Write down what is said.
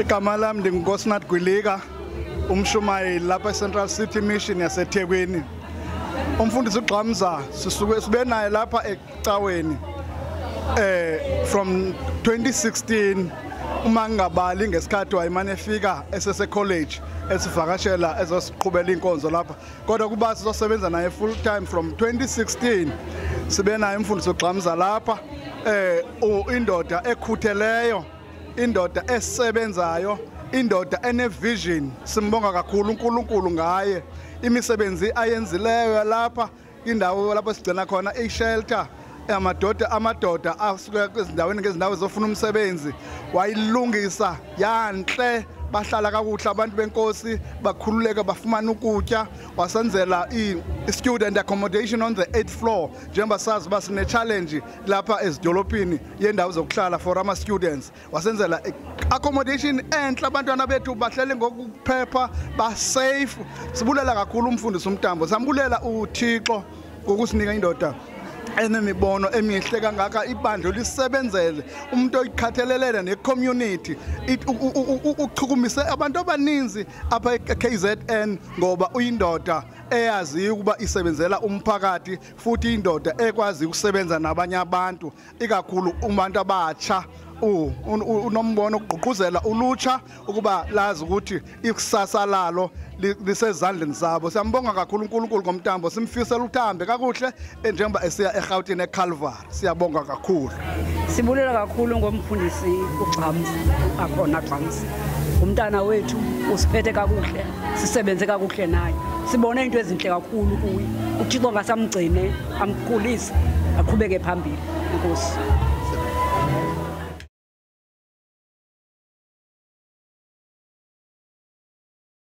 igama lami ndingunkosinathi gwilika umshumayeli lapha ecentral city mission yasethekwini umfundisi ugxamza sisuke sibe naye lapha ecaweni eh from 2016 uma ngingabali ngesikhathi wayimane efika esese college esivakashela ezosiqhubela inkonzo lapha kodwa kuba sizosebenza naye full time from 2016 sibe naye umfundisi ugxamza lapha eh indoda ekhutheleyo indoda esebenzayo indoda enevision simbonga kakhulu uNkulunkulu ngaye imisebenzi ayenzileyo lapha indawo lapho sigcina khona ishelter amadoda amadoda asuka kwezindaweni ngezindawo zofuna umsebenzi wayilungisa yanhle bahlala kakuhle abantu benkosi bakhululeka bafumana ukutya wasenzela i-student accommodation on the 8th floor njengoba sazi uba sine-challenge lapha ezidolophini yendawo zokuhlala for ama students wasenzela accommodation enhle abantwana bethu bahlele ngokuphepha ba safe sibulela kakhulu umfundisi umtambo sambulela uThixo ngokusinika indoda enemibono emihle kangaka ibandla lisebenzele umuntu oyikhathelelele necommunity uchukumise abantu abaninzi apha e-KZN ngoba uyindoda eyaziyo ukuba isebenzela umphakathi futhi indoda ekwazi ukusebenza nabanye abantu ikakhulu umuntu abatsha unombono ukugqugquzela ulutsha ukuba lazi ukuthi ikusasa lalo lisezandleni zabo siyambonga kakhulu uNkulunkulu ngomtambo simfisela uthambe kakuhle njengoba esiya eGauteng eCalvary Siyabonga kakhulu. Sibulela kakhulu ngomfundisi uGxams akhona Gxams. Umntana wethu usiphethe kakuhle, sisebenze kakuhle naye. Sibone into ezinhle kakhulu kuye. UThixo ngasamgcine, amkhulise, aqhubeke phambili. Inkosi.